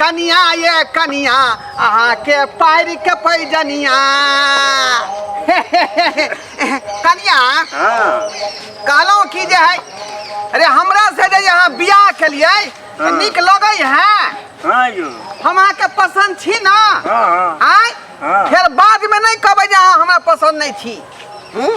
कनिया ये कनिया अहाँ के पार के पैजनिया कनिया हाँ कहलहुँ कि जे है अरे हमरा से जे यहाँ बियाह केलिए हाँ। नीक लगै है हाँ यौ हम अहाँके पसन्द छी ना हाँ हाँ आय हाँ। फिर बाद में नहीं कहबै जे अहाँ हमरा पसन्द नहीं छी हम्म?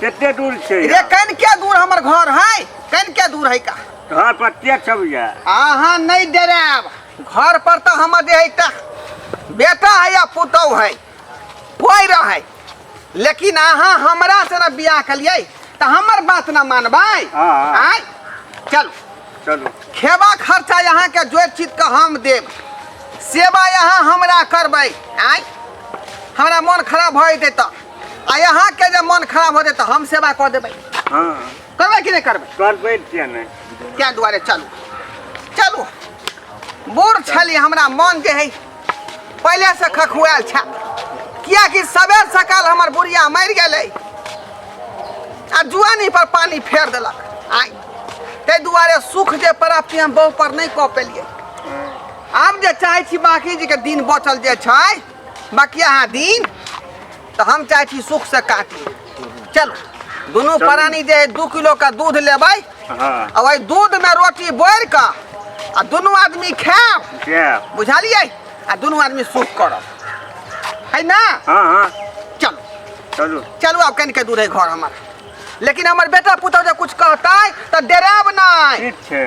कते दूर छै रे कन के दूर हमर घर है कन के दूर है का घर पर के छब जा आहा नहीं डराब घर पर तो हम दे है ता बेटा है या पुतौ है कोई रहे लेकिन आहा हमरा से ना बियाह कलिए तो हमर बात ना मानबै हाँ, हाँ। आय चल चलो खेबा खर्चा यहाँ के जो चीज के हम देब सेवा यहाँ हमरा करबै आय हमरा मन खराब भए जेतै तऽ आ यहाँ के जब मन खराब हो जाए तो हम सेवा कर देबै हाँ करबै कि नहीं करबै करबै किया नहीं क्या दुआरे चलू चलू बूढ़ छली हमरा मन जे है पहले से खखुआल छा किया कि सवेर सकाल हमर बुढ़िया मर गए आ जुआनी पर पानी फेर देलक आई ते दुआरे सुख जे प्राप्ति हम बहु पर नहीं कऽ पेलिए आब जे चाहै छी बाकी जी के दिन बचल जे छै बाकी अहाँ दिन तऽ हम चाहै छी सुख से काटी चलू दुनू प्राणी जे है दू किलो के दूध लेबै हाँ आ ओहि दूध में रोटी बोर कऽ आ दुनू आदमी खायब क्या बुझलियै आ दुनू आदमी सुख करब है ना हाँ हाँ चलू चलो चलू आब कनिके दूर है घर हमर लेकिन हमर बेटा पुतहु जे कुछ कहतै तऽ डरायब नहि ठीक है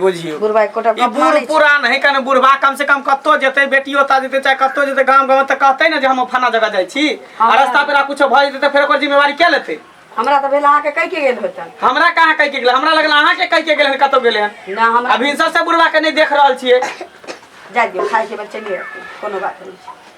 बुझियो बुढ़बा एकोटा ई गप बूढ़ मानै छै। पुरान है कने बुढ़बा कम से कम कत्तो जेतै बेटी ओता जेतै चाहे कत्तो जेतै गांव गांव तऽ कहतै ने जे हम फना जगह जाइ छी आ हँ। रास्ता पेरा कुछो भऽ जेतै तऽ फेर ओकर जिम्मेवारी के लेतै हमरा तऽ भेल अहाँके कहि के गेल होतन हमरा कहाँ कहि के गेल हमरा लगल अहाँ के कहि के गेल हन कतौ गेल हन ना हमरा अभी सब से बुढ़बा के नहीं देख रहल छियै जाय दियौ खाइ के बच्चे ले कोनो बात नहि छै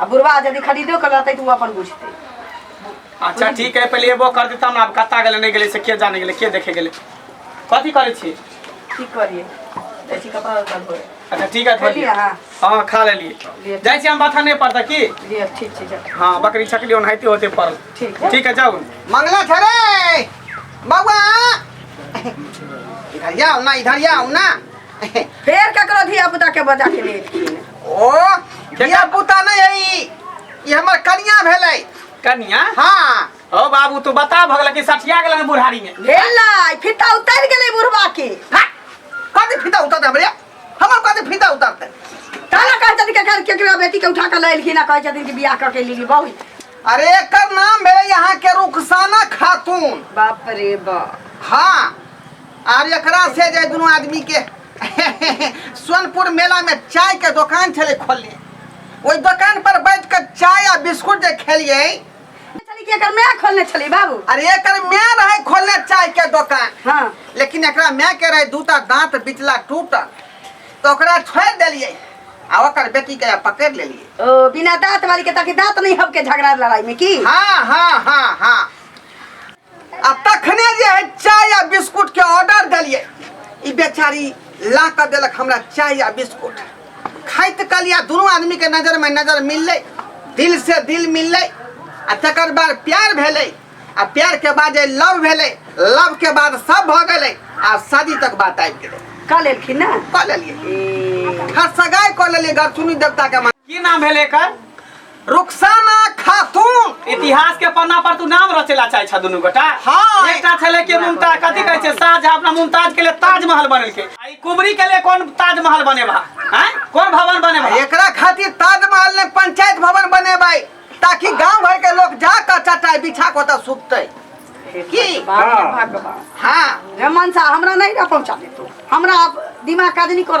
आ बुढ़वा यदि खरीदो कर लेते तो वो अपन बुझते अच्छा ठीक है पहले एबो कर देता ना अब कत्ता गेले नहीं गेले से के जाने गेले के देखे गेले कथी करे छी की करिए ऐसी कपड़ा लत्ता धोए अच्छा ठीक है खेलिए थोड़ी हाँ हाँ खा ले लिए लिए जाए छी हम बाथा नहीं पड़ता की लिए ठीक ठीक है हाँ बकरी छकली ओनाहिते होते पड़ल ठीक है ठीक है जाओ मंगला था रे बउआ इधर आओ ना इधर आओ ना फेर ककरो धिया पुता के बजा के लेलखिन ओ धिया पुता नहीं है ई ई हमर कनिया भेलै कनिया हाँ ओ बाबू तू बता भगल कि सठिया गेलन बुढ़ारी में भेलै फिता उतर गेलै बुढ़वा के हट! कथी फीता उतर हमरे हमर कथी फीता उतरते तारा कहै छथिन कि घर केकरा बेटी के उठा के लेलखिन आ कहै छथिन कि बियाह कऽ के लेली बहु अरे एकर नाम भेलै यहाँ के रुखसाना खातून बाप रे बाप हाँ आर एकरा से जे दुनू आदमी के सोनपुर मेला में चाय के दुकान छले खोलने ओहि दुकान पर बैठ कर चाय आ बिस्कुट जे खेलिए चली के एकर मैं खोलने चली बाबू अरे एकर मैं रहे खोलने चाय के दुकान हाँ लेकिन एकरा मैं के रहे दूटा दांत बिचला टूटल तो ओकरा छोड़ दिलिए आ ओकर बेटी के पकड़ लेलिए ओ बिना दांत वाली के ताकि दांत नहीं हबके झगड़ा लड़ाई में की हाँ हाँ हाँ हाँ आ तखने जे है चाय आ बिस्कुट के ऑर्डर दिलिए ई बेचारी ला कर दिलक हमरा चाय आ बिस्कुट खाइत कलिया दोनों आदमी के नजर में नजर मिलले दिल से दिल मिलले आ तकर बाद प्यार भेले आ प्यार के बाद जे लव भेले लव के बाद सब भ गेले आ शादी तक बात आबि गेले का लेलखिन ना कऽ लेलिए घर सगाई कऽ लेलिए घर सुनी देवता के मान की नाम भेल एकर रुखसाना खातून इतिहास के पन्ना पर तू नाम रचेला चाहे छ दुनू गोटा हाँ। एकटा छले के मुमताज कथी कहै छै शाहजहां अपना मुमताज के लिए ताजमहल बनेलके आ ई कुबरी के लिए कोन ताजमहल बनेबा हैं कोन भवन बनेबा एकरा खातिर ताजमहल ने पंचायत भवन बनेबै ताकि गांव भर के लोग जा के चटाई बिछा के ओतऽ सुततै की हाँ हाँ रे मनसा हमरा नहीं रह पहुंचा दे तू हमरा अब दिमाग काज नहीं कर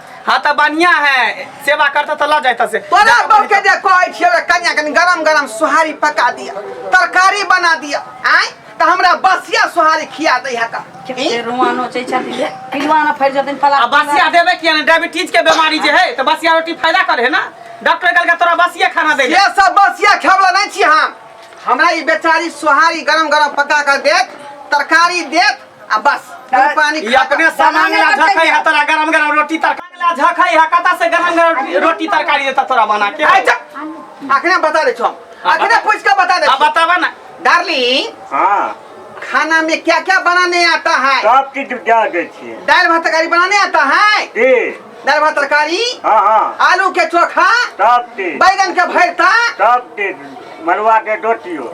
हाँ तो बढ़िया है सेवा करता तो ला जाता से तोरा बहू के जे कहै छियै ओकरा कनिया कनि गरम गरम सोहारी पका दिया तरकारी बना दिया आय त हमरा बसिया सोहारी खिया दै है त केते रुआ नोचै छथिन हे पिलुआ न फैर जथिन फला आ बसिया देवे किया ने डायबिटीज के बीमारी जे है तो बसिया रोटी फायदा करे है ना डॉक्टर कहलका तोरा बसिया खाना दे ये सब बसिया खेवला नहीं छी हम हमरा ई बेचारी सोहारी गरम गरम पका कर देत तरकारी देत आ बस तू पानी ई खा अपने खा- सामान ला बनाने झखै है तोरा गरम गरम रोटी तरकारी ला झखै है कता से गरम गरम रोटी तरकारी देता तोरा बना के आइ जा अखने बता दे छो हाँ, अखने बता। पूछ के बता दे आ छो। बतावा ना डार्लिंग हाँ खाना में क्या क्या बनाने आता है सब चीज जान दे छियै दाल भात तरकारी बनाने आता है जी दाल भात तरकारी हाँ हाँ आलू के चोखा सब चीज बैगन के भरता सब चीज मरुआ के रोटियो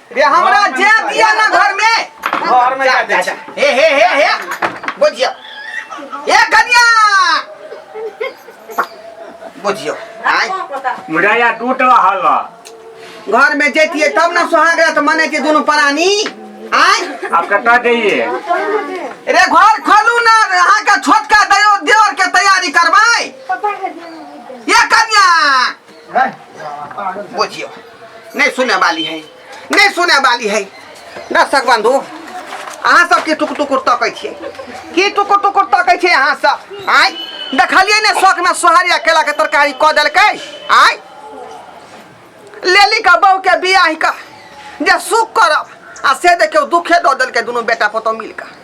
रे हमरा जे दिया ना घर में घर में जा जा हे हे हे हे बुझियो ए कन्या बुझियो आय मुड़ा या टूट रहल घर में जेतिए तब ना सुहाग रात मने के दोनों प्राणी आय आप कटा जाइए रे घर खोलू ना अहाँ का छोटका दयो देवर के तैयारी करवाई ये कन्या बुझियो नहीं सुने वाली है नहीं सुने वाली है दर्शक बंधु अहाँ सबके टुकुर टुकुर तकै छियै की टुकुर टुकुर तकै छियै अहाँ सब आय देखलियै ने शौकमे सोहारी आ केलाके तरकारी कऽ देलकै आय लेली का बहू के बियाह का जे सुख करब आ से देखियौ दुखे दऽ देलकै दुनू बेटा पुतहु मिल कऽ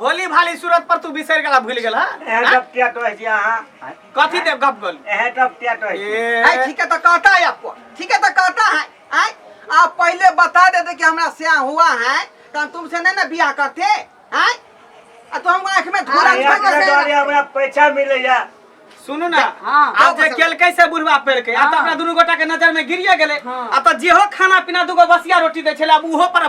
भोली भाली सूरत पर तू बिसरि गेला भूलि गेला एहे हाँ? जब टेट होइ छी अहाँ कथी देव गप गोल एहे जब टेट होइ छी है ठीक है तो कहता है आपको ठीक है तो कहता है आय? आप पहले बता देते कि हमरा से हुआ है तो हम तुमसे नहीं ना बियाह करते हैं आ तो हम आंख में धूरा अरे यार, निकल के द्वारे गया। हमरा पैसा मिलैया सुनू ना हाँ, आप हाँ, जे बस- केलकै से बुढ़वा पेड़ के आ तो हाँ। अपना दुनू गोटा के नजर में गिरिए गेलै हाँ। आ तो जेहो खाना पीना दूगो बसिया रोटी दै छलै आब उहो पर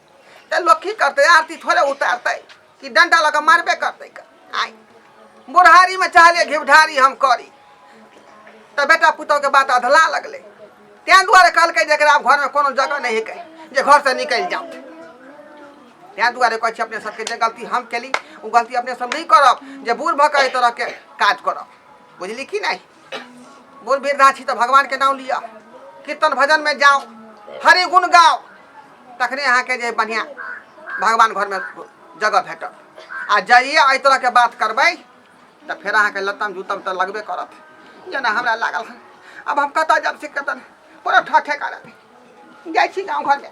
तऽ लोक की करतै आरती थोड़े उतारतै कि डंडा लऽ कऽ मारबे करतै क- आइ बुढ़ारीमे चाहले घिवढारी हम करी तऽ बेटा पुतहुके बात अधला लगलै तेँ दुआरे कहलकै जे एकरा घरमे कोनो जगह नहि हिकै जे घरसँ निकलि जाउ तेँ दुआरे कहै छी अपने सबके जे गलती हम केली ओ गलती अपने सब नहि करब जे बूढ़ भऽ कऽ एहि तरहके काज करब बुझली कि नहि बोल बीर नाची तो भगवान के नाम लिया कीर्तन भजन में जाओ हरि गुण गाओ तखने यहाँ के जे बढ़िया भगवान घर में जगह भेट आ जाइए एहि तरह के बात करबै तो फिर अहाँ के लतम जूतम तो लगबे करत जेना हमरा लागल हन अब हम कतऽ जब से कतऽ पूरा ठठे करत जाइ छी गाँव घर में